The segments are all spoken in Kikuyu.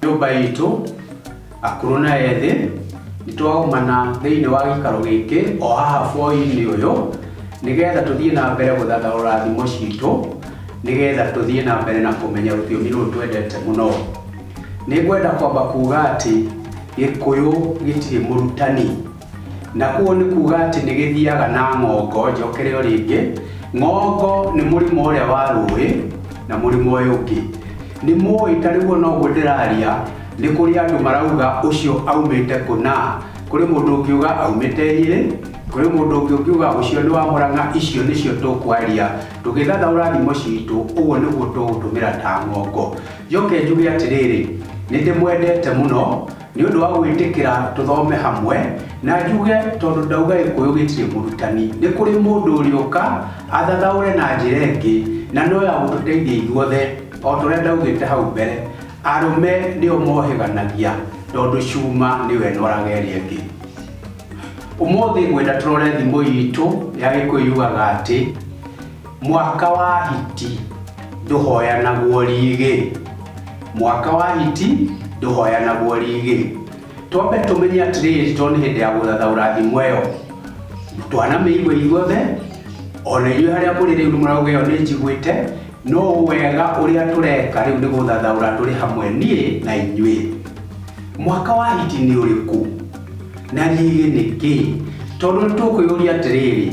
Nyũmba itũ, akũrũ na ethĩ, nĩ twaumana thĩinĩ wa gĩikaro gĩkĩ o haha bũrũri-inĩ ũyũ, nĩgetha tũthiĩ na mbere gũthathaũra thimo citũ, nĩgetha tũthiĩ na mbere na kũmenya rũthiomi rũrũ twendete mũno. Nĩ ngwenda kwamba kuuga atĩ Gĩkũyũ gĩtirĩ mũrutani. Na ũũ nĩ kuuga atĩ nĩ gĩthiaga na ng'ongo, njokere o rĩngĩ, ng'ongo nĩ mũrĩmo ũrĩa wa rũĩ na mũrĩmo ũyũ ũngĩ. Nĩ mũĩ ta rĩu o na ũguo ndĩraria nĩ kũrĩ andũ marauga ũcio aumĩte kũna, kũrĩ mũndũ ũngiuga aumĩte Nyĩrĩ, kũrĩ mũndũ ũngĩ ũngiuga ũcio nĩ wa Mũrang'a, icio nĩcio tũkwaria tũgĩthathaũra thimo citũ, ũguo nĩguo tũgũtũmĩra ta ng'ongo. Njoke njuge atĩrĩrĩ, nĩ ndĩmwendete mũno. Nĩ ũndũ wa gwĩtĩkĩra tũthome hamwe na njuge tondũ ndauga gĩkũyũ gĩtirĩ mũrutani, nĩ kũrĩ mũndũ ũrĩũka athathaũre na njĩra ĩngĩ na no ya gũtũteithia ithuothe o ta ũrĩa ndaugĩte hau mbere, arũme nĩo mohĩganagia tondũ cuma nĩyo ĩnoraga ĩrĩa ĩngĩ. Ũmũthĩ ngwenda tũrore thimo itũ ya gĩkũyũ yugaga atĩ, Mwaka wa hiti ndũhoyanagwo rĩgĩ. Mwaka wa hiti ndũhoyanagwo rĩgĩ. Twambe tũmenye atĩrĩrĩ tondũ nĩ hĩndĩ ya gũthathaũra thimo ĩyo. Twanamĩigua ithuothe, ona inyuĩ harĩa mũrĩ rĩu nĩ mũrauga ĩyo nĩ njiguĩte, no wega ũrĩa tũreka rĩu nĩ gũthathaũra tũrĩ hamwe niĩ na inyuĩ. Mwaka wa hiti nĩ ũrĩkũ? Na rĩgĩ nĩ kĩĩ? Tondũ nĩ tũkwĩyũria atĩrĩrĩ,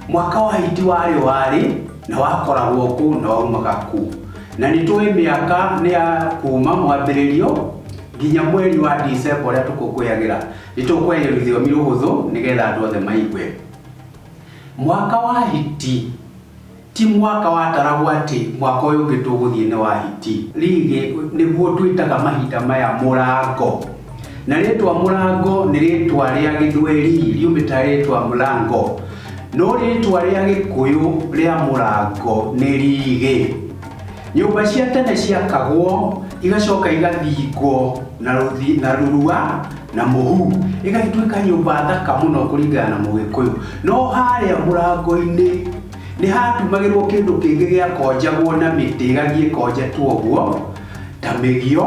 Mwaka wa hiti warĩo warĩ, na wakoragwo kũu na waumaga kũu. Na nĩ tũĩ mĩaka nĩ ya kuuma mwambĩrĩrio nginya mweri wa Dicemba ũrĩa tũkũngũyagĩra. Nĩ tũkũyagia rũthiomi rũhũthũ nĩgetha andũ othe maigue. Mwaka wa hiti ti mwaka wataragwo atĩ mwaka ũyũ ũngĩ tũgũthiĩ nĩ wa hiti. Rĩrĩ nĩguo twĩtaga mahinda maya mũrango. Na rĩtwa mũrango nĩ rĩtwa rĩa gĩthweri riumĩta rĩtwa mũrango, no rĩtwa rĩa gĩkũyũ rĩa mũrango nĩ rigĩ. Nyũmba cia tene ciakagwo igacoka igathingwo na rũthi na rũrua na mũhu, ĩgatuĩka nyũmba thaka mũno kũringana na mũgĩkũyũ. No harĩa mũrango-inĩ nĩ hatumagĩrwo kĩndũ kĩngĩ gĩakonjagwo na mĩtĩ ĩgathiĩ ĩkonjetwo ũguo ta mĩgio.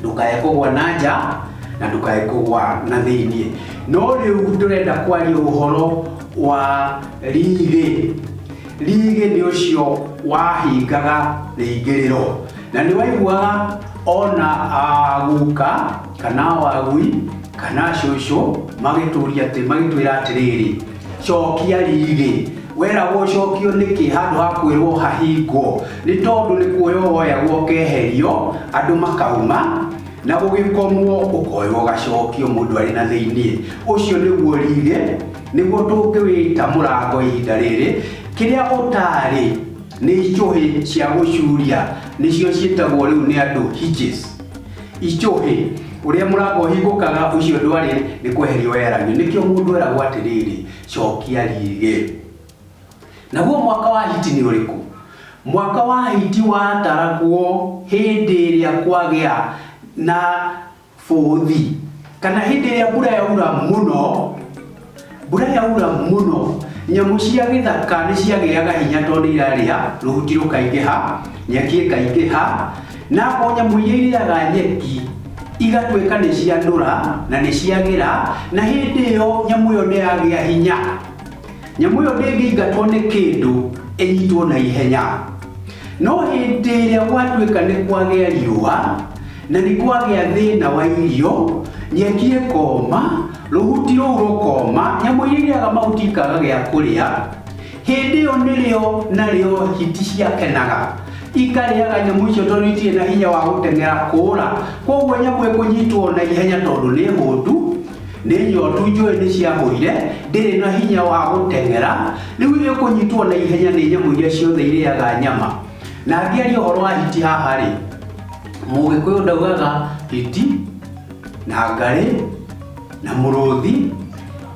ndũkae kũgwa na nja na ndũkae kũgwa na thĩinĩ no rĩu tũrenda kwaria ũhoro wa riri riri nĩ ũcio wahingaga rĩingĩrĩro na nĩ waiguaga ona aguka kana wagui kana cũcũ magĩtũria atĩ magĩtwĩra atĩrĩrĩ cokia riri weragwo cokio nĩkĩ handũ ha kwĩrwo hahingwo nĩ tondũ nĩ kuoya woyagwo ũkeherio andũ makauma na gũgĩkomwo ũkoywo gacokio mũndũ arĩ na thĩinĩ ũcio nĩguo riri nĩguo tũngĩwĩta mũrango ihinda rĩrĩ kĩrĩa ũtarĩ nĩ icũhĩ cia gũcuria nĩcio ciĩtagwo rĩu nĩ andũ hitches Ichũhĩ, ũrĩa mũrango ũhingũkaga, ũcio ndwarĩ, nĩ kweherio weheragio. Nĩkĩo mũndũ eragwo atĩrĩrĩ, cokia rĩĩgĩ. Naguo mwaka wa hiti nĩ ũrĩkũ? Mwaka wa hiti wataragwo hĩndĩ ĩrĩa kwagĩa na bũthi, kana hĩndĩ ĩrĩa mbura yaura mũno. Mbura yaura mũno, nyamũ cia gĩthaka nĩ ciagĩaga hinya tondũ nĩ irarĩa, rũhuti rũkaingĩha, nyeki ĩkaingĩha, na o nyamũ iria irĩaga nyeki igatuĩka nĩ ciandũra na nĩ ciagĩra, na hĩndĩ ĩyo nyamũ ĩyo nĩ yagĩa hinya. Nyamũ ĩyo ndĩngĩingatwo nĩ kĩndũ ĩnyitwo na ihenya. No hĩndĩ ĩrĩa gwatuĩka nĩ kwagĩa riũa na nĩ kwagĩa thĩna wa irio, nyeki ĩkoma, Rũhuti rũu rũkooma, nyamũ iria irĩaga mahuti ikaga gĩa kũrĩa, hĩndĩ ĩyo nĩrĩo narĩo hiti ciakenaga ikarĩaga nyamũ icio tondũ itirĩ na hinya wa gũteng'era kũũra. Kwoguo nyamũ ĩkũnyitwo na ihenya tondũ nĩ hũtu, nĩ nyotu, njũĩ nĩ ciahũire, ndĩrĩ na hinya wa gũteng'era, rĩu ĩkũnyitwo na ihenya nĩ nyamũ iria ciothe irĩaga nyama. Na ngĩaria ũhoro wa hiti haha-rĩ, Mũgĩkũyũ ndaugaga hiti. na ngarĩ na mũrũthi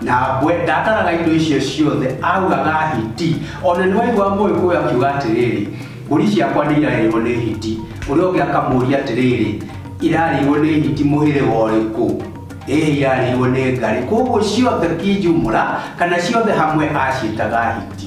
na mbwe ndataraga indo icio ciothe augaga hiti ona nĩ waigua mũĩkũyũ akiuga atĩrĩrĩ mbũri ciakwa nĩ irarĩirwo nĩ hiti ũrĩa ũngĩ akamũria atĩrĩrĩ irarĩirwo nĩ hiti mũhĩrĩga ũrĩkũ ĩhĩ irarĩirwo nĩ ngarĩ koguo ciothe kinjumũra kana ciothe hamwe aciĩtaga hiti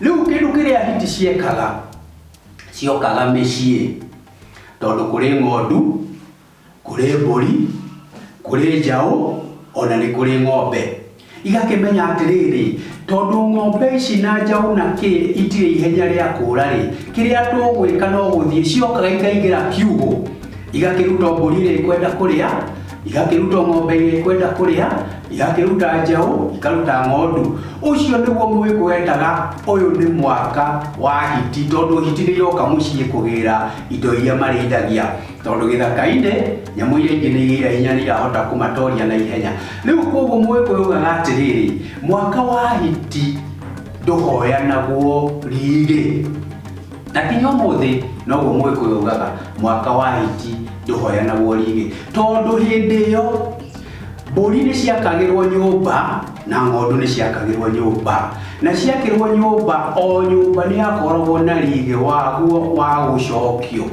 Rĩu kĩndũ kĩrĩa hiti ciekaga ciokaga mĩciĩ tondũ kũrĩ ng'ondu, kũrĩ mbũri, kũrĩ njaũ ona nĩ kũrĩ ng'ombe. Igakĩmenya atĩrĩrĩ, tondũ ng'ombe ici na njaũ na kĩ itirĩ ihenya rĩa kũũra rĩ, kĩrĩa tũgwĩka no gũthiĩ, ciokaga ikaingĩra kiugũ, igakĩruta o mbũri ĩrĩa ikwenda kũrĩa. igakĩruta ng'ombe iria ikwenda kũrĩa igakĩruta njaũ ikaruta ng'ondu ũcio nĩguo mwĩkũ wendaga ũyũ nĩ mwaka wa hiti tondũ hiti nĩ iroka mũciĩ kũgĩra indo iria marĩithagia tondũ gĩthaka-inĩ nyamũ iria ingĩ nĩ igĩra hinya nĩ irahota kũmatoria na ihenya rĩu koguo mwĩkũ yugaga atĩrĩrĩ mwaka wa hiti ndũhoyanagwo riri na nginya ũmũthĩ noguo mũgĩkũyũ ugaga mwaka wa hiti ndũhoyanagwo rĩngĩ tondũ hĩndĩ ĩyo mbũri nĩ ciakagĩrwo nyũmba na ng'ondu nĩ ciakagĩrwo nyũmba na ciakĩrwo nyũmba o nyũmba nĩ yakoragwo na rĩgĩ waguo wa gũcokio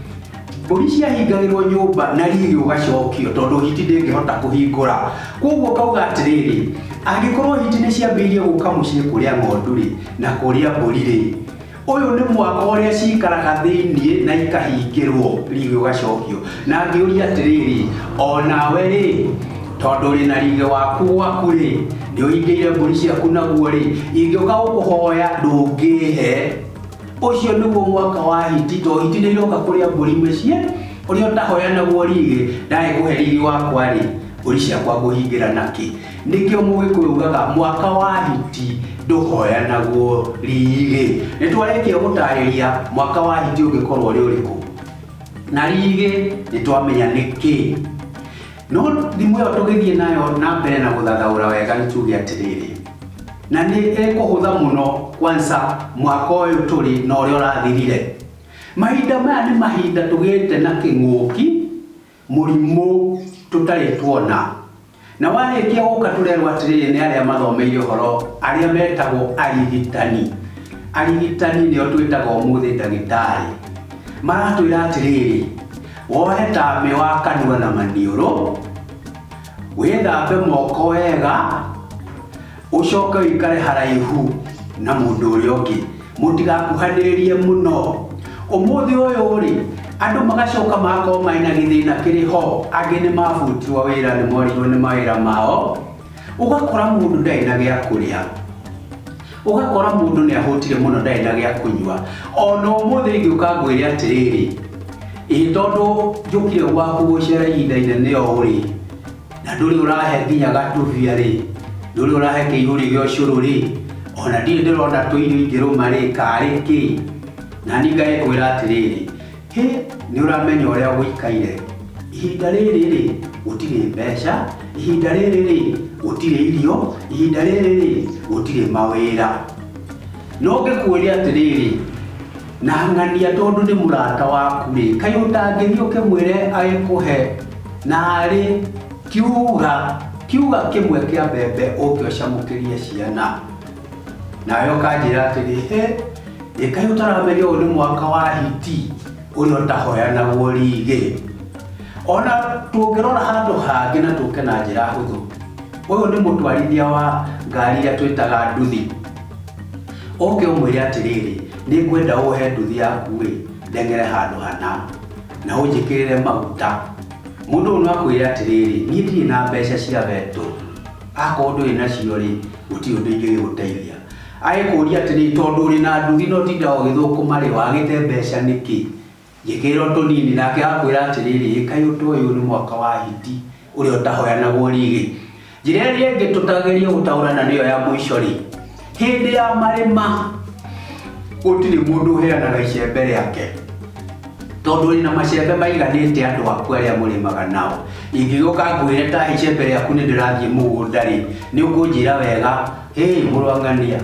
mbũri ciahingagĩrwo nyũmba na riri ũgacokio tondũ hiti ndĩngĩhota kũhingũra koguo kauga atĩrĩrĩ angĩkorwo hiti nĩ ciambĩirie gũka mũciĩ kũrĩa ng'ondu rĩ na kũrĩa mbũri rĩ Ũyũ nĩ mwaka ũrĩa ciikaraga thĩinĩ na ikahingĩrwo, rĩgĩ ũgacokio. Na ngĩũria atĩrĩrĩ, o nawe-rĩ, tondũ ũrĩ na rĩgĩ waku gwaku-rĩ, nĩũhingĩire mbũri ciaku naguo-rĩ, ingĩũka gũkũhoya ndũngĩĩhe. Ũcio nĩguo mwaka wa hiti, tondũ hiti nĩiroka kũrĩa mbũri mĩciĩ, ũrĩa ũtahoya naguo rĩgĩ, ndagĩkũhe rĩgĩ wakwa-rĩ, mbũri ciakwa ngũhingĩra nakĩ? Nĩkĩo mũgĩkũyũ ugaga mwaka wa hiti ndũhoyanagwo rĩgĩ. Nĩ twarĩkia gũtarĩria mwaka wa hiti ũngĩkorwo ũrĩ ũrĩkũ na rĩgĩ nĩ twamenya nĩkĩ. No thimũ ĩyo tũgĩthiĩ nayo na mbere na gũthathaũra wega nĩ tuge atĩrĩrĩ, na nĩ ĩkũhũtha mũno kwanza mwaka ũyũ tũrĩ na ũrĩa ũrathirire. Mahinda maya nĩ mahinda tũgĩte na kĩng'ũki mũrimũ tũtarĩ tuona. Na warĩkia gũka tũrerwo atĩrĩrĩ nĩ arĩa mathomeire ũhoro arĩa metagwo arigitani. Arigitani nĩo twĩtaga ũmũthĩ ndagĩtarĩ. Maratwĩra atĩrĩrĩ, woe tamĩ wa kanua na maniũrũ, wĩthambe moko wega, Ũcoke ũikare haraihu na mũndũ ũrĩa ũngĩ, mũtigakuhanĩrĩrie mũno. Ũmũthĩ ũyũ-rĩ, andũ magacoka magakorwo marĩ na gĩthĩna kĩrĩ ho, angĩ nĩ mabutirwo wĩra, nĩ morirwo nĩ mawĩra mao, ũgakora mũndũ ndarĩ na gĩa kũrĩa, ũgakora mũndũ nĩ ahũtire mũno ndarĩ na gĩa kũnyua. O na ũmũthĩ ingĩũka ngwĩre atĩrĩrĩ, ĩĩ tondũ njũkire gwaku gũcera ihinda inene ũũ-rĩ, na ndũrĩ ũrahe nginya gatũbia rĩ ndũrĩ ũrahe kĩihũri gĩa ũcũrũ rĩ ona ndirĩ ndĩrona tũirio ingĩrũma rĩ karĩ kĩ na ni ngagĩkwĩra atĩrĩrĩ hĩ nĩ ũramenya ũrĩa gũikaire ihinda rĩrĩ rĩ gũtirĩ mbeca ihinda rĩrĩ rĩ gũtirĩ irio ihinda rĩrĩ rĩ gũtirĩ mawĩra No ngĩkuũria atĩrĩrĩ, na ng'ania tondũ nĩ mũrata waku-rĩ, kaĩ ũtangĩthiĩ ũkĩmwĩre agĩkũhe narĩ kiuga kiuga kĩmwe kĩa mbembe ũke ũcamũkĩrie ciana? Nawe ũkanjĩra atĩrĩ, hĩ, ĩ kaĩ ũtaramenya ũyũ nĩ mwaka wa hiti ũrĩa ũtahoyanagwo rĩgĩ? Ona tũngĩrora handũ hangĩ na tũke na njĩra hũthũ, ũyũ nĩ mũtwarithia wa ngari iria twĩtaga nduthi. Oke ũmwĩre atĩrĩrĩ, nĩngwenda wohe nduthi yaku-ĩ, ndeng'ere handũ hana, na ũnjĩkĩrĩre maguta. Mũndũ ũyũ no akwĩre atĩrĩrĩ, niĩ ndirĩ na mbeca cia betũ, akorwo ndũrĩ nacio-rĩ, gũtirĩ ũndũ ingĩgĩgũteithia. Agĩkũria atĩrĩrĩ, tondũ ũrĩ na nduthi na ũtindaga ũgĩthũkũma-rĩ, wagĩte mbeca nĩkĩ? Njĩkĩrĩra o tũnini. Nake agakwĩra atĩrĩrĩ, Ĩ kaĩ ũtoĩ ũyũ nĩ mwaka wa hiti, ũrĩa ũtahoyanagwo riri? Njĩra ĩrĩa ĩngĩ tũtagerie gũtaũra na nĩyo ya mũico-rĩ, hĩndĩ ya marĩma gũtirĩ mũndũ ũheanaga icembe rĩake, tondũ wĩna macembe maiganĩte andũ aku arĩa mũrĩmaga nao. Ingĩgĩũka ngwĩre tahe icembe rĩaku nĩndĩrathiĩ mũgũnda-rĩ, nĩũkũnjĩra wega, 'Hĩ mũrũ wa ng'ania,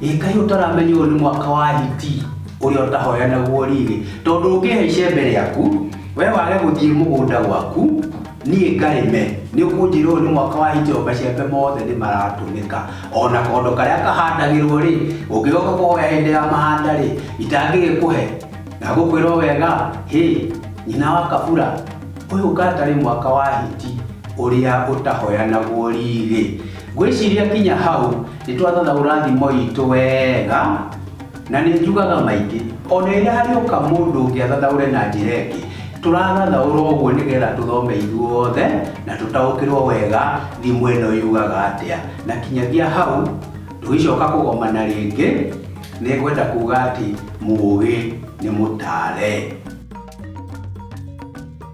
ĩ kaĩ ũtaramenya ũyũ nĩ mwaka wa hiti ũrĩa ũtahoya naguo rĩrĩ tondũ ũngĩhe icembe rĩaku we wage gũthiĩ mũgũnda gwaku niĩ ngarĩme nĩ ũkũnjĩra ũyũ nĩ mwaka wa hiti o macembe mothe nĩ maratũmĩka ona kondo karĩa kahandagĩrwo rĩ ũngĩgoka kũhoya hĩndĩ ya mahanda rĩ itangĩgĩkũhe na gũkwĩrwo wega hĩ nyina wa kabura ũyũ ũkatarĩ mwaka wa hiti ũrĩa ũtahoya naguo rĩrĩ Ngwĩciria kinya hau nĩ twathathaũra thimo itũ wega, na nĩ njugaga maingĩ. O na rĩrĩa harĩũka mũndũ ũngĩ athathaũre na njĩra ĩngĩ, tũrathathaũra ũguo nĩgetha tũthome ithuothe na tũtaũkĩrũo wega thimo ĩno yugaga atĩa. Na kinyagia hau, tũgĩcoka kũgomana rĩngĩ, nĩ ngwenda kuuga atĩ mũũgĩ nĩ mũtaare.